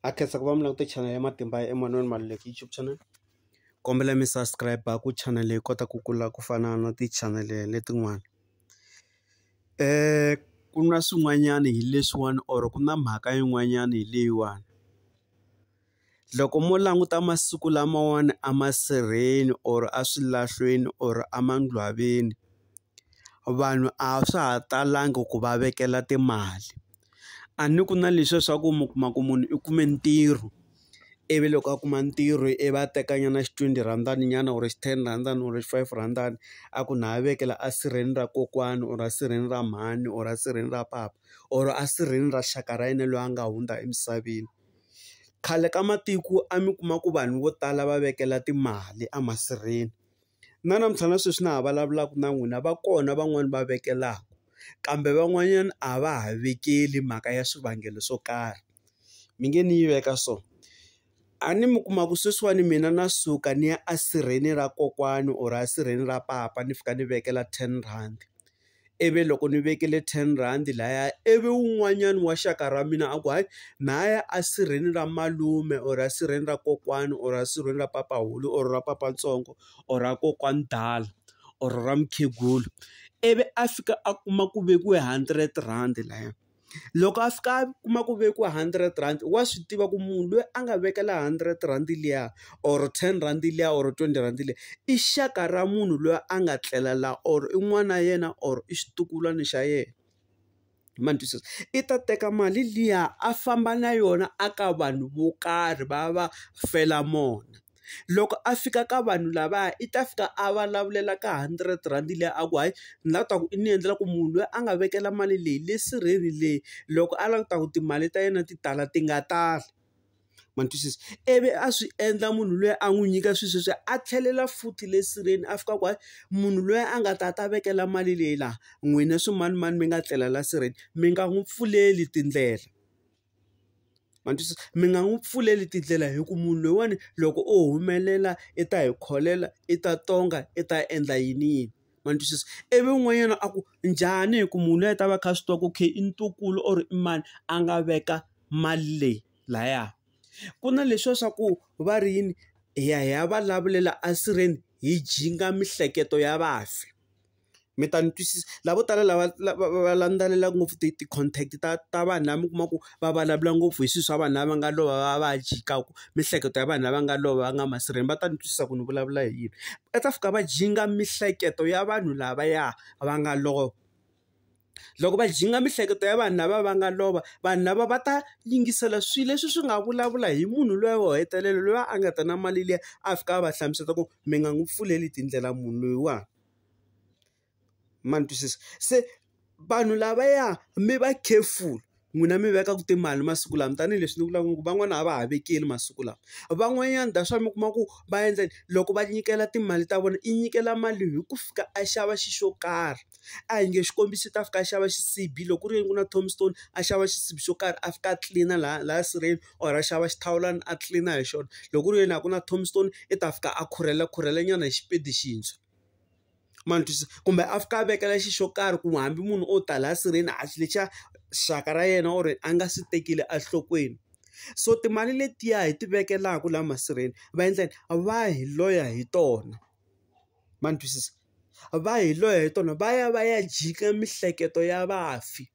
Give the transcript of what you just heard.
ha khensa ku va mi langute channel ya matimba ya Emmanuel Maluleke YouTube channel kombela mi subscribe ku channel leyi kota ku kula ku fana na ti-channel letin'wana um ku na swin'wanyana hi leswiwani or ku na mhaka yin'wanyana hi leyiwani loko mo languta masiku lamawani a masirheni or a swilahlweni or a mangcwaveni vanhu a swa ha talangi ku va vekela timali. A ni ku na leswiya swa ku mi kuma ku munhu i kume ntirho, ivi loko a kuma ntirho i va a tekanyana xitwendi rhandi nyana or ten rhandi or five rhandi a ku na ha vekela a sirheni ra kokwani or a sirheni ra mhani or a sirheni ra papa or a sirheni ra xaka ra yena loyi a nga hundza emisaveni. Khale ka matiko a mi kuma ku vanhu vo tala va vekela timali emasirheni Na namuntlha na sweswi na ha vulavulaka na n'wina va kona van'wani va vekelaka, kambe van'wanyana a va ha vekeli hi mhaka ya swivangelo swo karhi. Mi nge ni yi veka so, a ni mi kuma ku sweswiwani mina na suka ni ya esirheni ra kokwani or esirheni ra papa ni fika ni vekela ten rhandi. ivi loko ni vekile ten rhandi laya ivi wun'wanyani wa xaka ra mina a ku hayi mhaya a sirheni ra malume or a sirheni ra kokwani or a sirheni ra papahulu or ra papatsongo or ra kokwani dala or ra mukhegula ivi a fika a kuma ku vekiwe hundred rhandi laya. Loko a fika a kuma ku vekiwa hundred rand wa swi tiva ku munhu loyi a nga vekela hundred rhandi liya or ten rhandi liya or twenty rhandi liya, i xaka ra munhu loyi a nga tlela la or i n'wana wa yena or i xitukulwana xa yena. Ma ni twisisa? I ta teka mali liya a famba na yona a ka vanhu vo karhi va ya va fela mona. Loko a fika ka vanhu lavaya i ta fika a vulavulela ka hundred rhandi liya a ku hayi ni lava ku ta ku i ni endlela ku munhu loyi a nga vekela mali leyi le sirheni le loko a lava ku ta ku timali ta yena ti tala ti nga tali ma ni twisisa ivi a swi endla munhu loyi a n'wi nyika swilo sweswiya a tlhelela futhi le sirheni a fika a ku hayi munhu loyi a nga ta ta vekela mali leyi laha n'wina swimanimani mi nga tlela la sirheni mi nga n'wi pfuleli tindlela. ma twisisa mi nga n'wi pfuleli tindlela hi ku munhu loyiwani loko o humelela i ta hi kholela i ta tonga i ta endla yini yini ma ni twisisa ivi n'wanyana a ku njhani hi ku munhu loyi a ta va kha a swi tiva ku okay i ntukulu or i mani a nga veka mali leyi laya ku na leswiya swa ku va ri yini hi ya hi ya va lavulela esirheni hi jinga miehleketo ya vafi mi ta ni twisisa. Lavo tala lava lava va landzelelaka ngopfu ti ti-contact ta ta vanhu lava mi kuma ku va vulavula ngopfu hi swilo swa vanhu lava nga lova va va jikaku, miehleketo ya vanhu lava nga lova va nga masirheni va ta ni twisisa ku ni vulavula hi yini. Va ta fika va jinga miehleketo ya vanhu lavaya va nga lova. Loko va jinga miehleketo ya vanhu lava va nga lova, vanhu lava va ta yingisela swilo leswi swi nga vulavula hi munhu luya wo hetelela loyi a nga ta na mali liya, a fika a va hlamusela ku mi nga n'wi pfuleli tindlela munhu loyiwani. ma ni twisisa se vanhu lava ya mi va careful n'wina mi veka ku timali masiku lama tanihileswi ni vulaka ku van'wana a va ha vekeli masiku lawa van'wanyana that's why mi kuma ku va endla yini loko va nyikela timali ta vona i nyikela mali hi ku fika a xava xi xo karhi a hi nge xikombiso i ta fika a xava xisibi loko ku ri yini ku na tombstone a xava xisibi xo karhi a fika a tlilina laha laha sirheni. or a xava xithawulana a tlilina hi xona. Loko ku ri yena a ku na tombstone i ta fika a khurhela khurhelanyana hi xipedi xintshwa. Ma ni twisisa? Kumbe a fika a vekela xilo xo karhi ku hambi munhu o ta laha sirheni a xi lexa xaka ra yena or a nga swi tekile enhlokweni. So timali letiya hi ti vekelaka laha masirheni va endla yini? Va hi loya hi tona. Ma ni twisisa? Va hi loya hi tona, va ya va ya jika miehleketo ya vafi.